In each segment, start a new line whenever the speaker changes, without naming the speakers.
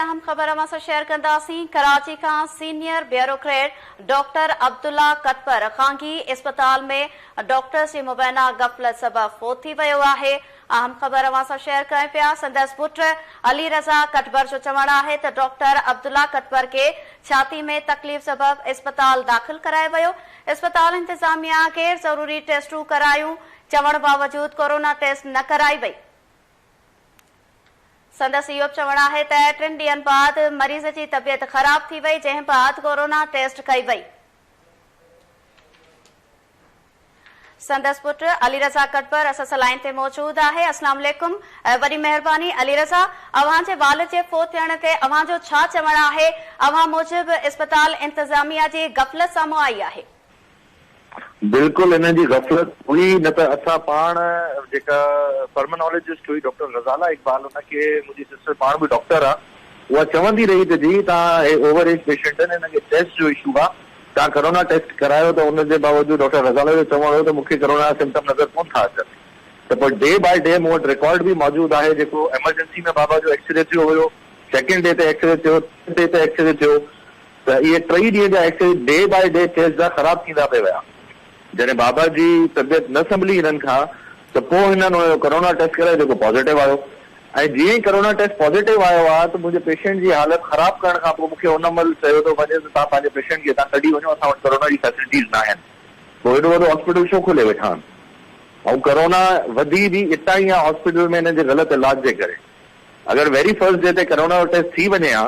اهم خبر اوهان سان شيئر ڪنداسين، ڪراچي کان senior bureaucrat doctor Abdullah Katpar خانگي اسپتال ۾ ڊاڪٽرز جي مبينا غفلت سبب فوت ٿي ويو آهي. اهم خبر اوهان سان شيئر ڪرين پيا، سندس پٽ علي رضا ڪٽبر جو چوڻ آهي ته ڊاڪٽر عبدالله ڪتپر کي ڇاتي ۾ تڪليف سبب اسپتال داخل ڪرايو ويو، اسپتال انتظاميا غير ضروري ٽيسٽون ڪرايون، چوڻ باوجود ڪورونا ٽيسٽ نه ڪرائي وئي. سندس اهو به چوڻ آهي ته ٽن ڏينهن بعد مريض جي طبيعت خراب ٿي وئي جنهن بعد ڪورونا ٽيسٽ ڪئي وئي. سندس پٽ علي رضا ڪٽبر اس اس لائين تي موجود آهي اسلام عليڪم وڏي مهرباني علي رضا اوهان جي والد جي فوت ٿيڻ تي اوهان جو ڇا چوڻ آهي اوهان موجب اسپتال انتظاميه جي غفلت سامهون آئي آهي
بلڪل انهن جي غفلت هئي نه ته اسان پاڻ جيڪا پرمنالجسٽ هئي ڊاڪٽر غزالا اقبال ان کي منهنجي سسٽر پاڻ به ڊاڪٽر آ اها چوندي رهي ته جي تان هي اوور ايج پيشنٽ آهن انهن کي ٽيسٽ جو اشو آ تان ڪرونا ٽيسٽ ڪرايو ته ان جي باوجود ڊاڪٽر غزالا جو چوڻ هو ته مون کي ڪرونا جا سمپٽم نظر ڪون ٿا اچن ته پر ڊي بائي ڊي مون وٽ رڪارڊ به موجود آهي جيڪو ايمرجنسي ۾ بابا جو ايڪسري ٿيو هيو سيڪنڊ ڊي تي ايڪسري ٿيو ٿرڊ ڊي تي ايڪسري ٿيو ته اهي ٽئي ڏينهن جا X ray day by day test جا خراب ٿيندا پئي ويا. جڏهن بابا جي طبيعت نه سنڀلي هنن کان ته پوء هنن ان جو ڪرونا ٽيسٽ ڪرايو جيڪو پازيٽو آيو ۽ جيئن ئي ڪرونا ٽيسٽ پازيٽو آيو آ ته منهنجي پيشنٽ جي حالت خراب ڪرڻ کان پوء مون کي ان مهل چيو ٿو وڃي ته توهان پنهنجي پيشنٽ کي هتان ڪڍي وڃو اسان وٽ ڪرونا جي فيسلٽيز ناهن پوء ايڏو وڏو هاسپيٽل ڇو کولي ويٺا آهن ۽ ڪرونا وڌي به اتان ئي آ هاسپيٽل ۾ هنن جي غلط علاج جي ڪري اگر ويري فرسٽ ڊي تي ڪرونا جو ٽيسٽ ٿي وڃي ها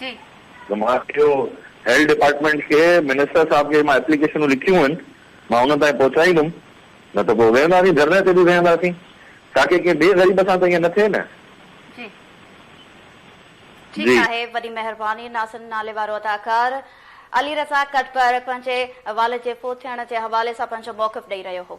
جي. مان اهو هيلٿ ڊپارٽمينٽ کي منسٽر صاحب کي مان ايپليڪيشنون لکيون آهن مان انهن تائين پهچائيندم نه ته پوء ويهنداسين ڌرڻي تي به ويهنداسين تاڪي ڪنهن ٻئي غريب سان ته ائين نه ٿئي نه.
جي ٺيڪ جي. آهي وڏي مهرباني ناصر ناليوارو اداڪار علي رضا ڪٽپر پنهنجي والد جي فوت ٿيڻ جي حوالي سان پنهنجو موقف ڏئي رهيو هو.